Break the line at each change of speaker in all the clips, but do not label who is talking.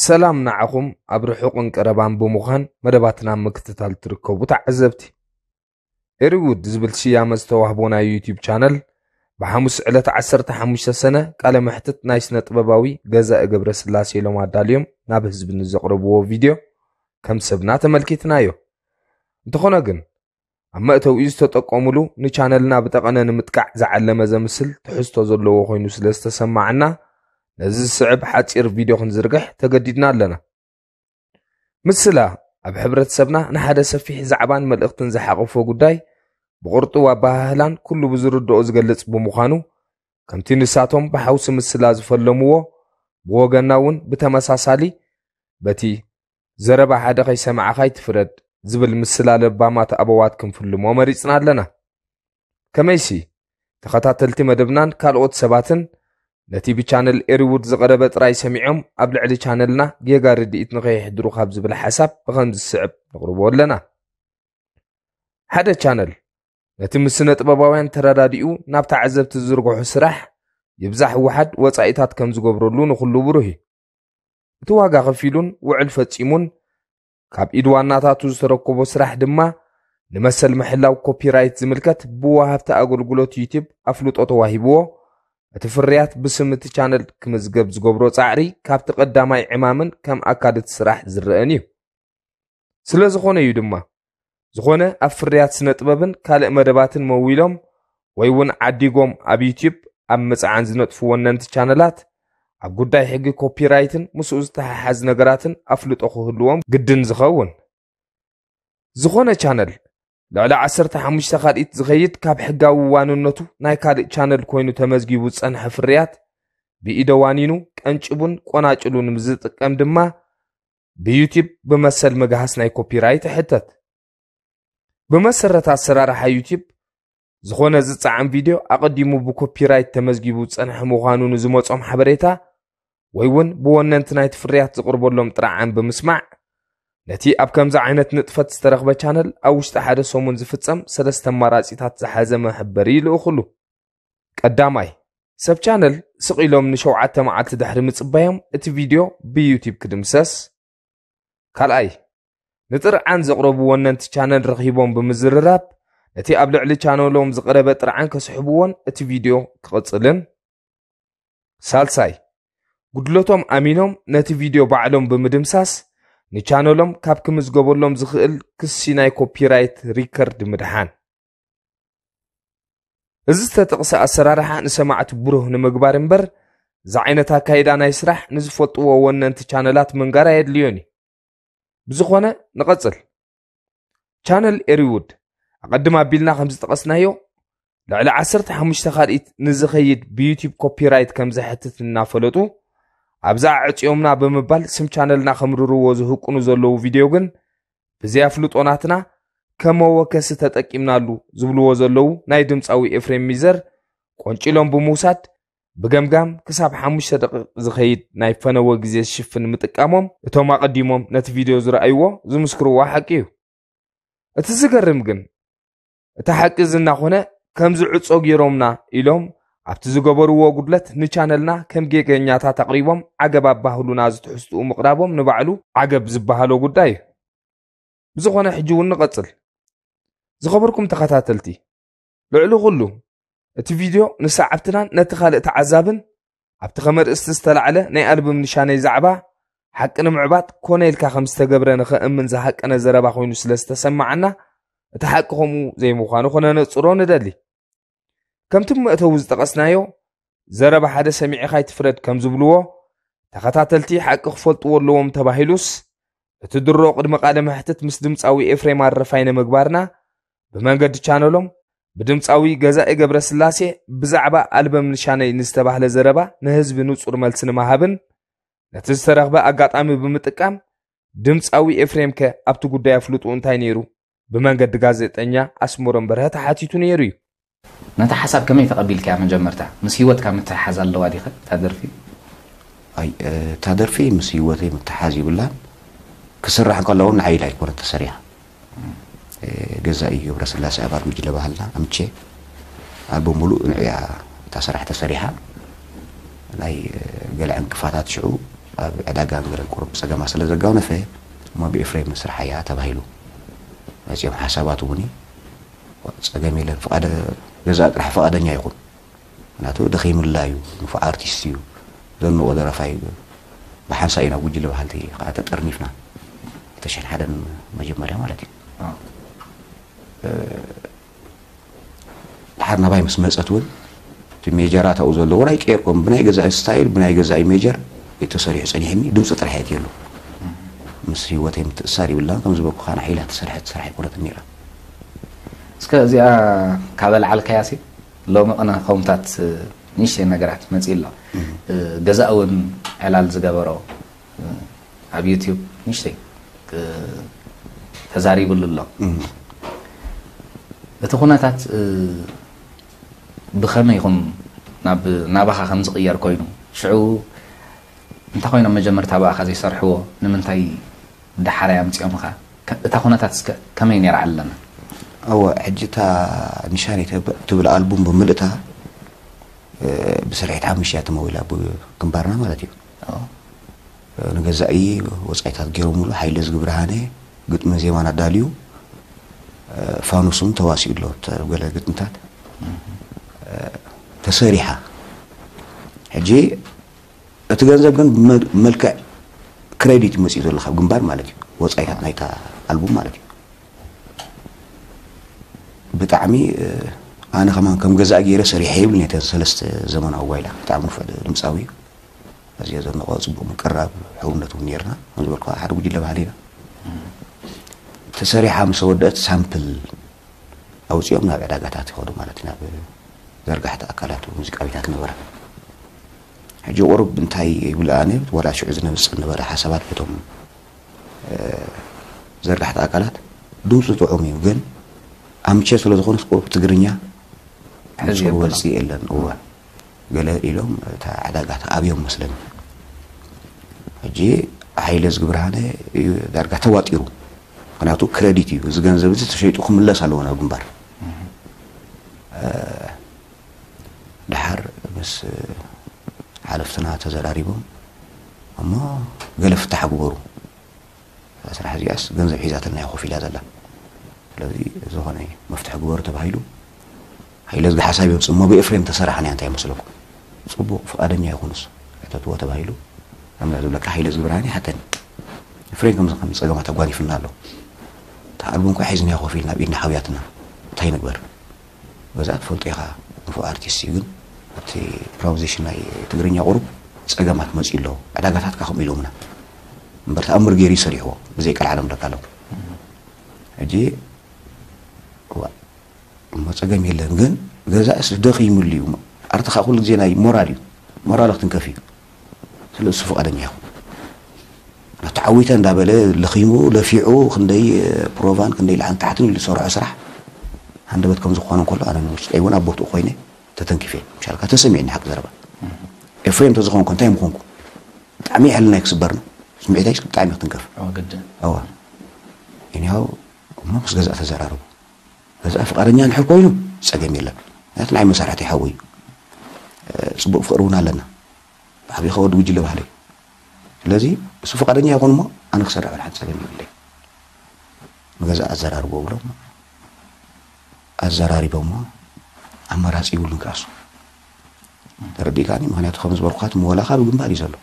ሰላም ንዓኹም ኣብ ርሑቕን ቀረባን ብምዃን መደባትና ምክትታል ትርከቡ ተዓዘብቲ ኤሪውድ ዝብል ስያመ ዝተዋህቦ ናይ ዩትዩብ ቻነል ብሓሙስ ዕለት 15 ሰነ ቃለ መሕትት ናይ ስነ ጥበባዊ ገዛኢ ገብረ ስላሴ ኢሎም ኣዳልዮም ናብ ህዝቢ ንዘቕረብዎ ቪድዮ ከም ሰብና ተመልኪትናዮ እንተኾነ ግን ኣብ መእተዊኡ ዝተጠቀሙሉ ንቻነልና ብጠቐነ ንምጥቃዕ ዝዓለመ ዘምስል ትሕዝቶ ዘለዎ ኮይኑ ስለ ዝተሰማዕና ነዚ ዝስዕብ ሓፂር ቪድዮ ክንዝርግሕ ተገዲድና ኣለና ምስላ ኣብ ሕብረተሰብና ንሓደ ሰፊሕ ዛዕባን መልእኽትን ዝሓቐፎ ጉዳይ ብቕርጡው ኣባሃህላን ኩሉ ብዝርድኦ ዝገልጽ ብምዃኑ ከምቲ ንሳቶም ብሓውሲ ምስላ ዝፈለምዎ ብወገና እውን ብተመሳሳሊ በቲ ዘረባ ሓደ ከይሰማዕኻ ኣይትፍረድ ዝብል ምስላ ለባማት ኣበዋት ክንፍልሞ መሪጽና ኣለና ከመይሲ ተኸታተልቲ መደብናን ካልኦት ሰባትን ነቲ ብቻነል ኤሪውድ ዝቐረበ ጥራይ ሰሚዖም ኣብ ልዕሊ ቻነልና ጌጋ ርድኢት ንኸይሕድሩ ካብ ዝብል ሓሳብ ብኸምዚ ዝስዕብ ንቕርቦ ኣለና ሓደ ቻነል ነቲ ምስ ስነ ጥበባውያን ተረዳዲኡ ናብ ተዓዘብቲ ዝዝርግሑ ስራሕ ይብዛሕ ውሓድ ወፃኢታት ከም ዝገብረሉ ንኹሉ ብሩህ እዩ እቲ ዋጋ ከፊሉን ውዕል ፈፂሙን ካብ ኢድ ዋናታቱ ዝተረከቦ ስራሕ ድማ ንመሰል ምሕላው ኮፒራይት ዝምልከት ብወሃብቲ ኣገልግሎት ዩቲብ ኣፍልጦ ተዋሂብዎ እቲ ፍርያት ብስም እቲ ቻነል ክምዝገብ ዝገብሮ ፃዕሪ ካብቲ ቀዳማይ ዕማምን ከም ኣካል እቲ ስራሕ ዝረአን እዩ ስለ ዝኾነ እዩ ድማ ዝኾነ ኣብ ፍርያት ስነ ጥበብን ካልእ መደባትን መዊሎም ወይ እውን ዓዲጎም ኣብ ዩትዩብ ኣብ ምጽዓን ዝነጥፉ ወነንቲ ቻነላት ኣብ ጉዳይ ሕጊ ኮፒራይትን ምስኡ ዝተሓሓዝ ነገራትን ኣፍልጦ ክህልዎም ግድን ዝኸውን ዝኾነ ቻነል ልዕሊ 15 ካልኢት ዝኸይድ ካብ ሕጋዊ ዋንነቱ ናይ ካልእ ቻነል ኮይኑ ተመዝጊቡ ዝጸንሐ ፍርያት ብኢደ ዋኒኑ ቀንጭቡን ቆናጭሉን ምስ ዝጥቀም ድማ ብዩቲብ ብመሰል ምግሃስ ናይ ኮፒራይት ይሕተት ብመሰረት ኣሰራርሓ ዩቲብ ዝኾነ ዝፀዓም ቪድዮ ኣቐዲሙ ብኮፒራይት ተመዝጊቡ ዝፀንሐ ምዃኑ ንዝመፆም ሓበሬታ ወይ እውን ብወነንቲ ናይቲ ፍርያት ዝቕርበሎም ጥራዓን ብምስማዕ ነቲ ኣብ ከምዚ ዓይነት ንጥፈት ዝተረኽበ ቻነል ኣብ ውሽጢ ሓደ ሰሙን ዝፍፀም ሰለስተ ኣማራፂታት ዝሓዘ መሕበሪ ይልእኽሉ ቀዳማይ፣ ሰብ ቻነል ስቕ ኢሎም ንሸውዓተ መዓልቲ ድሕሪ ምጽባዮም እቲ ቪድዮ ብዩቲብ ክድምሰስ። ካልኣይ፣ ንጥርዓን ዘቕረቡ ወነንቲ ቻነል ረኺቦም ብምዝርራብ ነቲ ኣብ ልዕሊ ቻነሎም ዝቐረበ ጥርዓን ከስሕብዎን እቲ ቪድዮ ክቕጽልን ሳልሳይ ጉድለቶም ኣሚኖም ነቲ ቪድዮ ባዕሎም ብምድምሳስ ንቻነሎም ካብ ክምዝገበሎም ዝኽእል ክሲ ናይ ኮፒራይት ሪከርድ ምድሓን እዚ ዝተጠቕሰ ኣሰራርሓ ንሰማዕቲ ብሩህ ንምግባር እምበር እዚ ዓይነት ኣካይዳ ናይ ስራሕ ንዝፈልጥዎ ወነንቲ ቻነላት ምንጋር ኣየድልዮን እዩ ብዝኾነ ንቐፅል ቻነል ኤሪውድ ኣቐድም ኣቢልና ከም ዝጠቐስናዮ ልዕሊ 15 ካልኢት ንዝኸይድ ብዩቲብ ኮፒራይት ከም ዘሕትት እናፈለጡ ኣብዛ ኣዕፅዮምና ብምባል ስም ቻነልና ከምርርዎ ዝህቁኑ ዘለዉ ቪድዮ ግን እዚ ኣፍልጦ ናትና ከም መወከሲ ተጠቂምናሉ ዝብልዎ ዘለዉ ናይ ድምፃዊ ኤፍሬም ሚዘር ቆንጪሎም ብምውሳድ ብገምጋም ክሳብ ሓሙሽተ ደቂቕ ዝኸይድ ናይ ፈነወ ግዜ ዝሽፍን ምጥቃሞም እቶም ኣቐዲሞም ነቲ ቪድዮ ዝረኣይዎ ዝምስክርዎ ሓቂ እዩ እቲ ዝገርም ግን እታ ሓቂ እዚ እናኾነ ከምዚ ዕጾ ገይሮምና ኢሎም ኣብቲ ዝገበርዎ ጉድለት ንቻነልና ከም ጌገኛታት ኣቕሪቦም ዓገብ ኣባህሉና ዝትሕዝትኡ ምቕራቦም ንባዕሉ ዓገብ ዝበሃሎ ጉዳይ እዩ ብዝኾነ ሕጂ እውን ንቐጽል ዝኸበርኩም ተኸታተልቲ ልዕሊ ኩሉ እቲ ቪድዮ ንሰዓብትናን ነቲ ካልእ ተዓዛብን ኣብቲ ከመርእስቲ ዝተላዕለ ናይ ኣልቡም ንሻነይ ዛዕባ ሓቂ ንምዕባጥ ኮነ ኢልካ ከም ዝተገብረ ንኸእምን ዝሃቀነ ዘረባ ኮይኑ ስለ ዝተሰማዓና እቲ ሓቂ ከምኡ ዘይምዃኑ ክነነጽሮ ንደሊ ከምቲ መእተዊ ዝጠቐስናዮ ዘረባ ሓደ ሰሚዕኻ ኣይትፍረድ ከም ዝብልዎ ተኸታተልቲ ሓቂ ክፈልጥዎ ኣለዎም ተባሂሉስ እቲ ድሮ ቅድሚ ቃለ መሕትት ምስ ድምፃዊ ኤፍሬም ኣረፋይነ ምግባርና ብመንገዲ ቻነሎም ብድምፃዊ ገዛኢ ገብረ ስላሴ ብዛዕባ ኣልበም ንሻነይ ንዝተባህለ ዘረባ ንህዝቢ ንጹር መልሲ ንምሃብን ነቲ ዝተረኽበ ኣጋጣሚ ብምጥቃም ድምፃዊ ኤፍሬም ከ ኣብቲ ጉዳይ ኣፍልጡ እንታይ ነይሩ ብመንገዲ ጋዜጠኛ ኣስመሮም በርሀ ተሓቲቱ ነይሩ እዩ። ነታ
ሓሳብ ከመይ ተቐቢልካያ መጀመርታ? ምስ ህይወትካ ምትሕሓዝ ኣለዋ ዲኸ እታ ደርፊ? ኣይ
እታ ደርፊ ምስ ህይወተይ ምትሕሓዝ ይብላን ክስራሕ እንከላ እውን ንዓይ ኢላ ኣይኮነት ተሰሪሓ። ገዛኢ ገብረስላሴ ኣባል ጉጅለ ባህልና ኣምቼ ኣልበም ሙሉእ ንዕያ እታ ስራሕ ተሰሪሓ። ናይ ገለ ዕንቅፋታት ሽዑ ኣብ ዕዳጋ እንግለን ቁሩብ ፀገማ ስለ ዘጋውነፈ እሞ ብኤፍሬም ንስርሓያ ተባሂሉ። መፅዮም ሓሳባት እውን እዩ ፀገም የለን ፍቃደ ገዛእ ጥራሕ ፍቃደኛ ይኹን ምክንያቱ ደኺምላ እዩ ንፉዕ ኣርቲስት እዩ ዘንቆ ደረፋይ እዩ ብሓንሳእ ኢና ጉጅለ በሃልቲ ከዓ ተጠርኒፍና ክልተ ሽሕን ሓደን መጀመርያ ማለት እዩ ደሓር ናባይ ምስ መጸት እውን እቲ ሜጀራት ኣብኡ ዘለዎ ናይ ቄርቆም ብናይ ገዛኢ ስታይል ብናይ ገዛኢ ሜጀር እዩ ተሰሪሑ ጸኒሕኒ ድምጺ ጥራሕ እየ እትየሉ ምስ ህይወተይ ምትእሳር ይብላን ከም ዝበልኩኻ ንዓ ኢላ እትሰርሐት ስራሕ ኣይኮነትን ነይራ
እስከ እዚኣ ካብ ኣልዓልካያ ሲ ሎሚ ቅነ ከምታት ንእሽተይ ነገራት መጺኡ ኣሎ ገዛእ እውን ዕላል ዝገበሮ ኣብ ዩቱብ ንሽተይ ተዛሪብሉ ኣሎ እቲ ኩነታት ብኸመይ ኹም ናብ ናባኻ ከም ዝቕየር ኮይኑ ሽዑ እንታይ ኮይኖም መጀመርታ ብኣኻ ዘይሰርሕዎ ንምንታይ ዳሓራይ ኣምፅኦምኻ እታ ኩነታት እስከ ከመይ ነይራ ኣለና እወ
ሕጂ እታ ንሻኒ ትብል ኣልቡም ብምልእታ ብስርሒት ሓሙሽተ እያ ተመዊላ ግንባርና ማለት እዩ ንገዛኢ ወጻኢታት ገይሮምሉ፣ ሓይለ ዝግብርሃነ ግጥምን ዜማን ኣዳልዩ፣ ፋኑስ እውን ተዋሲኡ ኣሎ ኣብ ገለ ግጥምታት ተሰሪሓ። ሕጂ እቲ ገንዘብ ግን ብመልክዕ ክሬዲት እዩ መጺኡ ዘሎ ካብ ግንባር ማለት እዩ፣ ወጻኢታት ናይታ ኣልቡም ማለት እዩ። ብጣዕሚ ኣነ ከማን ከም ገዛኢ ገይረ ሰሪሐ ይብልን እየ እተን ሰለስተ ዘመናዊ ጓይላ ብጣዕሚ ንፉዕ ድምጻዊ እዩ። ኣዝየ ዘድንቆ ጽቡቅ ምቅራብ ሕውነት እውን ነርና ከም ዝበልካ ሓደ ጉጅለ ባህሊ ኢና ተሰሪሓ ምስ ወደእት ሳምፕል ኣውጺኦም ናብ ዕዳጋታት ይኸዱ ማለት ናብ ዘርጋሕቲ ኣካላት ሙዚቃ ቤታት ነበረ ሕጂ ቁሩብ እንታይ ይብል ኣነ ወላ ሽዑ ዝነብጽ ነበረ ሓሳባት በቶም ዘርጋሕቲ ኣካላት ድምፁ ጥዑም እዩ ግን ኣምቸ ስለ ዝኾነስ ቁሩብ ትግርኛ ሕዚ ወልፂ የለን እወ ገለ ኢሎም እታ ዕዳጋ ተኣብዮም መስለኒ ሕጂ ሃይለ ዝግብርሃነ እዩ ዳርጋ ተዋጢሩ ምክንያቱ ክረዲት እዩ እዚ ገንዘብ እዚ ተሸይጡ ክምለስ ኣለዎ ናብ ግንባር ድሓር ምስ ሓለፍትና ተዘራሪቦም እሞ ገለ ፍታሕ ግበሩ እዛ ስራሕ እዚኣስ ገንዘብ ሒዛትልና እያ ኮፍ ኢላ ዘላ ስለዚ ዝኾነ መፍትሒ ግበሩ ተባሂሉ ሃይለዝጊ ሓሳብ የምፅእ እሞ ብኤፍሬም ተሰራሕና እያ እንታይ ይመስለኩም ፅቡቕ ፍቓደኛ ይኹን ንሱ ሕተትዎ ተባሂሉ ከምዚ ዝብለካ ሃይለዝጊ ብርሃን ይሓተኒ ኤፍሬም ከምዚ ከምዚ ፀገማት ኣጓኒፍና ኣሎ እታ ኣልቡም እኳ ሒዝናያ ኮፍ ኢልና ኣብ ኢድና ሓውያትና እንታይ ንግበር በዛ ትፈልጦ ኢኻ ንፉዕ ኣርቲስት እዩ ግን ኣብቲ ፕራውዜሽን ናይ ትግርኛ ቁሩብ ጸገማት መጺኡ ኣሎ ዕዳጋታትካ ከምኡ ኢሎምና እምበር ተኣምር ገይሩ እዩ ሰሪሕዎ ብዘይ ቀልዓለም ደቃሎም ሕጂ እዋእ እሞ ጸገም የለን ግን ገዛእስ ደኺምሉ እዩ ኣርትኻ ኩሉ ግዜ ናይ ሞራል እዩ ሞራሉ ክትንከፍ እዩ ስለ እሱ ፍቃደኛ ይኹን ዶ ተዓዊተ እንዳበለ ለኺሙ ለፊዑ ክንደይ ፕሮቫን ክንደይ ላዕን ታሕትን ኢሉ ዝሰርሖ ስራሕ ሃንደበት ከም ዝኾነ ከሎ ኣነ ንውሽጠይ እውን ኣብ ቦትኡ ኮይነ ተተንኪፌ ምሻልካ ተሰሚዕኒ ሓቂ ዘረባ ኤፍሬም ተዝኾንኩ እንታይ ምኾንኩ ብጣዕሚ ሕልናይ ክስበር ነው ስምዒታይ ብጣዕሚ ክትንከፍ ግድን እዋ እኒሃው እሞ ምስ ገዛእ ተዘራረቡ በዛ ፍቃደኛ እንድሕር ኮይኑ ጸገም የለን ምክንያቱ ናይ መሳርሕቲ ሓዊ እዩ ጽቡቅ ፍቅሪ እውን ኣለና ብዓብይኻ ወዲ ጉጅለ ባህሊ እዩ ስለዚ እሱ ፍቃደኛ ይኹን እሞ ኣነ ክሰርሕ ወላ ሓንቲ ጸገም የብለይ ንገዛ ኣዘራርቦ ብሎም ኣዘራሪቦሞ ኣማራፂ ይብሉን ክኣሱ ተረዲእካኒ ምክንያቱ ከም ዝበልኩኻት መወላካ ብግንባር እዩ ዘሎ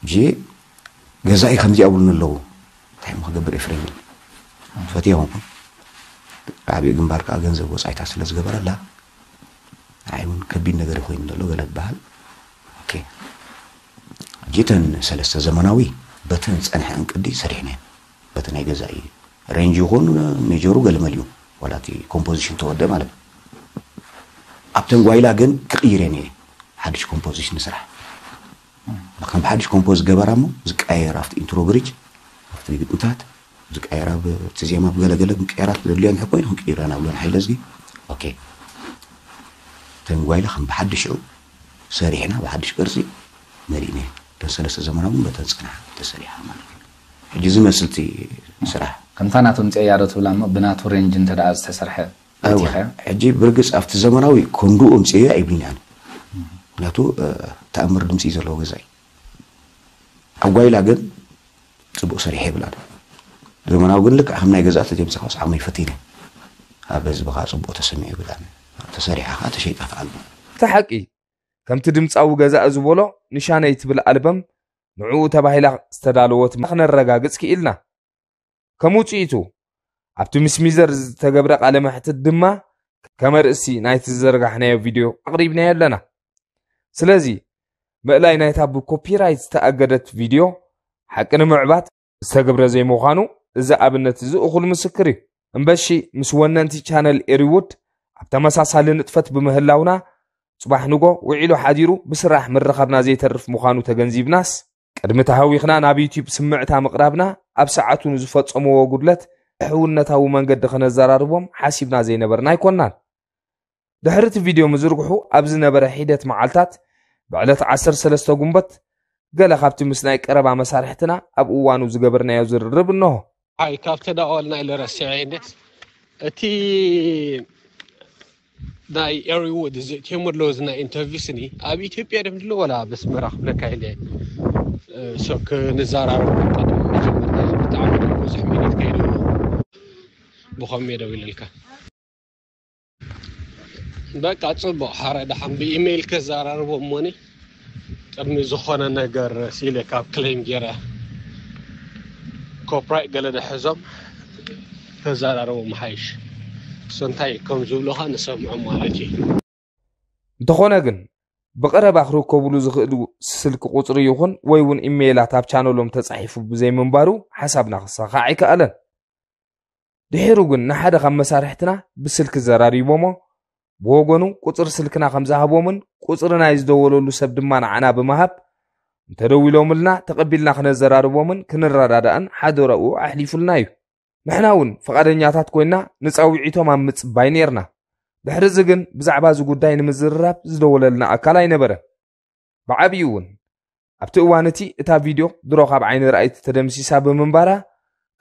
ሕጂ ገዛኢ ከምዚ ኣብሉኒ ኣለዉ እንታይ እሞ ክገብር ኤፍሬም ኢሉ ፈትየ ኮንኩ ዓብዪ ግንባር ከዓ ገንዘብ ወፃኢታት ስለ ዝገበረላ ንዓይ እውን ከቢድ ነገር እዩ ኮይኑ ዘሎ ገለ ክበሃል ኦኬ ሕጂ እተን ሰለስተ ዘመናዊ በተን ዝፀንሐ እንቅዲ ሰሪሕናየን በቲ ናይ ገዛኢ ሬንጅ ይኹን ሜጀሩ ገልመል እዩ ዋላ እቲ ኮምፖዚሽን ተወደ ማለት እዩ ኣብተን ጓይላ ግን ክቕይሬን እየ ሓድሽ ኮምፖዚሽን ንስራሕ ከም ብሓድሽ ኮምፖዝ ዝገበራ እሞ ዝቀያየር ኣብቲ ኢንትሮ ብሪጅ ኣብቲ ግጥምታት ዝቀየር ኣብ እቲ ዜማ ብገለገለ ምቅያራት ዘድልዮን ሕኮ ኮይኑ ክንቅይረን ኣብሎን ሓይለ እዝጊ ኦኬ እተን ጓይላ ከም ብሓድሽ ሽዑ ሰሪሕና ብሓድሽ ቅርፂ መሊእነ እተን ሰለስተ ዘመናዊ በተን ፀናሓ ተሰሪሓ ማለት እዩ ሕጂ ዝመስል እቲ ስራሕ። ከምታ ናቶም ጼያዶ
ትብላ እሞ ብናቱ ሬንጅ እንተድኣ ዝተሰርሐ ፈቲኻዮ።
እወ ሕጂ ብርግጽ ኣብቲ ዘመናዊ ኮንዱኡም ጼያ የብልኛን ምክንያቱ ተኣምር ድምጺ እዩ ዘለዎ ገዛይ ኣብ ጓይላ ግን ጽቡቅ ሰሪሐ የብላን ዘመናዊ ግን ልክዕ ከም ናይ ገዛ ተጀምጽካ ምስ ዓመይ ፈቲነ ኣብ ህዝቢ ከኣ ጽቡቅ ተሰሚዑ የብላን ተሰሪሓ ከኣ ተሸይጣ ትኣሉ። እቲ ሓቂ
ከምቲ ድምጻዊ ገዛኢ ዝቦሎ ንሻነይ ትብል ኣልበም ንዕኡ ተባሂላ ዝተዳለወት ክነረጋግጽ ክኢልና። ከም ውጽኢቱ ኣብቲ ምስ ሚዘር ዝተገብረ ቃለ መሕትት ድማ ከመርእሲ ናይቲ ዝዘርጋሕናዮ ቪድዮ ኣቕሪብናዮ ኣለና። ስለዚ ምእላይ ናይታ ብኮፒራይት ዝተኣገደት ቪድዮ ሓቂ ንምዕባት ዝተግብረ ዘይምዃኑ እዚ ኣብነት እዚ እኹል ምስክር እዩ እምበሺ ምስ ወነንቲ ቻነል ኤሪውድ ኣብ ተመሳሳሊ ንጥፈት ብምህላውና ጽባሕ ንጎ ውዒሉ ሓዲሩ ብስራሕ ምርኻብና ዘይተርፍ ምዃኑ ተገንዚብናስ ቅድሚ ተሃዊኽና ናብ ዩትዩብ ስምዕታ ምቕራብና ኣብ ሰዓቱ ንዝፈጸምዎ ጉድለት ሕውነታዊ መንገዲ ከነዘራርቦም ሓሲብና ዘይነበርና ኣይኮናን ድሕሪ እቲ ቪድዮ ምዝርግሑ ኣብ ዝነበረ ሒደት መዓልታት ብዕለት 13 ጉንበት ገለ ካብቲ ምስ ናይ ቀረባ መሳርሕትና ኣብ እዋኑ ዝገበርናዮ ዝርርብ እነሆ ኣይ ካብ
ተዳዋልና ኢለ ረሲዐ እንዴት እቲ ናይ ኤሪ ውድ እዚ እትዮም ኣለዎ እዚ ናይ ኢንተርቪው ስኒ ኣብ ኢትዮጵያ ደም ድሎ ወላ በስመራ ክብለካ ኢለ ሰው ክንዘራረብ ቀደም መጀመርታ ብጣዕሚ ብዙሕ ሚኒት ከይደሉ ብኸመይ ደው ኢለልካ በቃ ጽቡቅ ሓረ ደሓን ብኢሜይል ከዘራርቦ እሞኒ ቅድሚ ዝኾነ ነገር ሲለ ካብ ክሌም ገይረ ኮፕራይት ገለ ደሕዞም ከዘራርቦ ምሓይሽ እሱ እንታይ ከም ዝብሉኻ ንሰምዖ ማለት እዩ እንተኾነ
ግን ብቐረባ ክርከብሉ ዝኽእሉ ስልኪ ቁፅሪ ይኹን ወይ እውን ኢሜይላት ኣብ ቻነሎም ተፃሒፉ ብዘይምንባሩ ሓሳብና ክሳኻዕ ኣይከኣለን ድሒሩ ግን ንሓደ ካብ መሳርሕትና ብስልኪ ዘራሪቦሞ ብወገኑ ቁፅሪ ስልክና ከም ዝሃቦምን ቁፅሪ ናይ ዝደወለሉ ሰብ ድማ ንዓና ብምሃብ እንተደዊሎምልና ተቐቢልና ክነዘራርቦምን ክንረዳዳእን ሓደረኡ ኣሕሊፉልና እዩ ንሕና እውን ፍቓደኛታት ኮይና ንፃውዒቶም ኣብ ምፅባይ ነርና ድሕሪ እዚ ግን ብዛዕባ እዚ ጉዳይ ንምዝርራብ ዝደወለልና ኣካል ኣይነበረን ብዓቢኡ'ውን ኣብቲ እዋን እቲ እታ ቪድዮ ድሮ ካብ ዓይኒ ረኣይቲ ተደምሲሳ ብምንባራ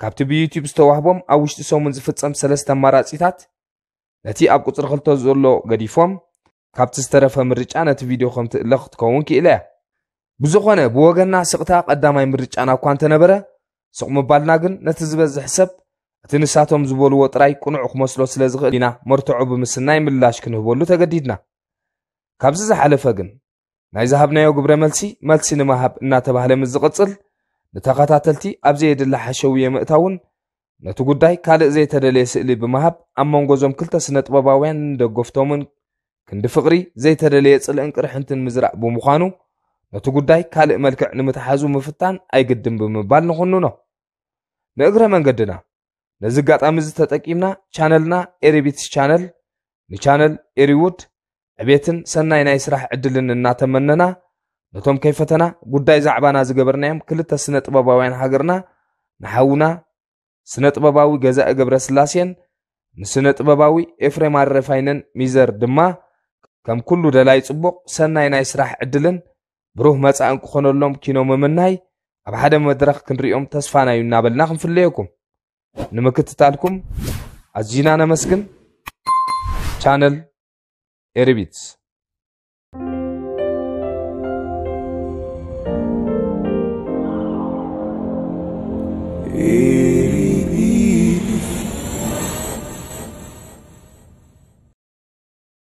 ካብቲ ብዩትዩብ ዝተዋህቦም ኣብ ውሽጢ ሰሙን ዝፍጸም ሰለስተ ኣማራጺታት ነቲ ኣብ ቁጽሪ ክልተ ዘሎ ገዲፎም ካብቲ ዝተረፈ ምርጫ ነቲ ቪድዮ ከም ትእለ ክትከውን ክኢላ እያ ብዝኾነ ብወገና ስቕታ ቀዳማይ ምርጫና እኳ እንተነበረ ስቕ ምባልና ግን ነቲ ዝበዝሕ ሰብ እቲ ንሳቶም ዝበልዎ ጥራይ ቅኑዕ ክመስሎ ስለ ዝኽእል ኢና መርትዖ ብምስናይ ምላሽ ክንህበሉ ተገዲድና ካብዚ ዝሓለፈ ግን ናይ ዝሃብናዮ ግብረ መልሲ መልሲ ንመሃብ እናተባህለ ምስ ዝቕጽል ንተኸታተልቲ ኣብ ዘየድሊ ሓሸውየ ምእታውን ነቲ ጉዳይ ካልእ ዘይተደለየ ስእሊ ብምሃብ ኣብ መንጎ እዞም ክልተ ስነ ጥበባውያን ንደገፍቶምን ክንዲ ፍቕሪ ዘይተደለየ ጽልእን ቅርሕንትን ምዝራእ ብምዃኑ ነቲ ጉዳይ ካልእ መልክዕ ንምትሓዙ ምፍታን ኣይግድን ብምባል ንኹንኖ ንእግረ መንገድና ነዚ ኣጋጣሚ እዚ ተጠቂምና ቻነልና ኤሪቢትስ ቻነል ንቻነል ኤሪውድ ዕቤትን ሰናይ ናይ ስራሕ ዕድልን እናተመነና ነቶም ከይፈተና ጉዳይ ዛዕባና ዝገበርናዮም ክልተ ስነ ጥበባውያን ሃገርና ንሓውና ስነ ጥበባዊ ገዛኢ ገብረ ስላሴን ንስነ ጥበባዊ ኤፍሬም ኣረፋይነን ሚዘር ድማ ከም ኩሉ ደላይ ጽቡቕ ሰናይ ናይ ስራሕ ዕድልን ብሩህ መጻእን ክኾነሎም ኪኖ ምምናይ ኣብ ሓደ መድረኽ ክንሪኦም ተስፋና እዩ እናበልና ክንፍለየኩም ንምክትታልኩም ኣዝዩና ነመስግን ቻነል ኤሪቢትስ